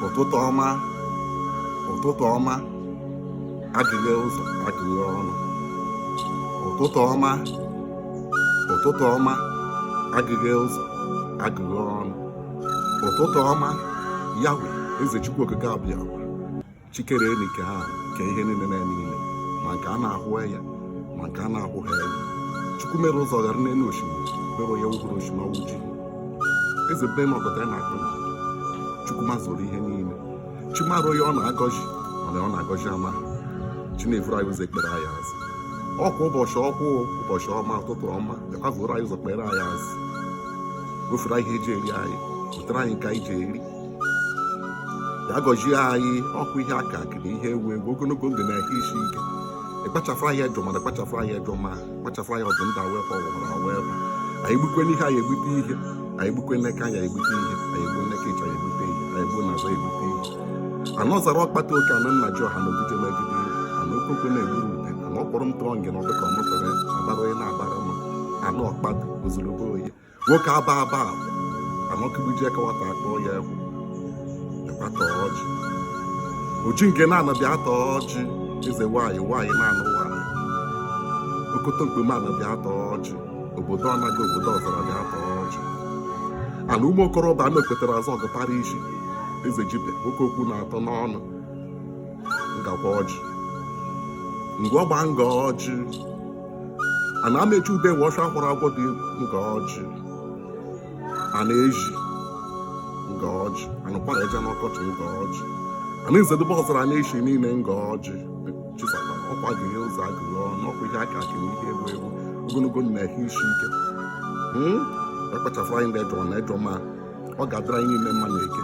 ụtụtụ ọma ụtụtụ ọma agụghe ụzọ agụghe ọnụ ụtụtụ ọma ụtụtụ ọma agụghe ụzọ agụghe ọnụ ụtụtụ ọma yawe eze chukwu okike abịa chi kere elu kee ana kee ihe niile na niile ma nke a na-ahụ anya ma nke a na-ahụghị anya chukwu mere ụzọ ghara n'elu osimiri mere onye wụbụrụ osimiri ọnwụ ji eze bi enu ọgọdọ ya na-akpụ n'ana chukwu mazuru ihe niile chi mara onye ọ na-agọzi mana ọ na-agọzi ama chi na-evuru anyị ụzọ ekpere anyị azụ ọkwa ụbọchị ọkwụ ụbọchị ọma ụtụtụ ọma bịakwa vuru anyị ụzọ kpere anyị azụ wefere anyị ihe eji eri anyị wetara anyị nke anyị ji eri ya gọzie anyị ọkwa ihe akụ akụ na ihe enwe enwe ogologo ndụ na ahụ isi ike ịkpachafụ anyị ejọ mmadụ kpachafụ anyị ejọ maa kpachafụ anyị ọdụ ndị awee kwa ọwụwa na wee kwa anyị gbukwe n'ihu anyị egbute ihe anyị gbukwe n'aka anyị egbute ihe anyị egbu n'aka ịchọ anyị egbute ihe anyị egbu n'azụ egbute ihe ana ọzara ọkpatụ oke ana nna ji ọha na ogige megide ana okoko na-egburu ude ana kpọrọ m tụọ ngị na ọdụka ọmụtara abara onye na-abara ma ana ọkpatụ ozugbo oyi nwoke aba aba anọkibiji ekewata akpọ ya egwu ekwata ọjị oji nke ana bịa taa ọjị eze nwanyị nwanyị na-anụ nwanyị okoto mkpeme ana bịa taa ọjị obodo anaghị obodo ọzara bịa taa ọjị ana ụmụ okorobịa a na-ekwetara azụ ọgụtara ishi eze jibe nwoke okwu na-atọ n'ọnụ ngakwa ọjị ngwa ọgba nga ọjị ana amechi ude nwe ọcha kwara agwọ dị nga ọjị ana ezi nga ọjị anụkwara eje n'ọkọchị nga ọjị ana nzedebe ọzara na-eshi niile nga ọjị chi sakwa ọkwa agụghe ụzọ agụghe ọnụ ọkwa ihe akụ akụ na ihe enwe enwe ogologo ndụ na ahụ isi ike ekpachapụ anyị ndị ejọ na ejọ maa ọ ga-adịrị anyị niile mma na eke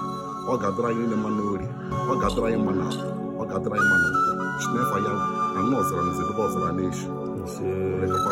ọ ga-adịrị anyị niile mma na orie ọ ga-adịrị anyị mma na afọ ọ ga-adịrị anyị mma na nkwọ chinefa ya ana ọzara ana nzedebe ọzara na-eshi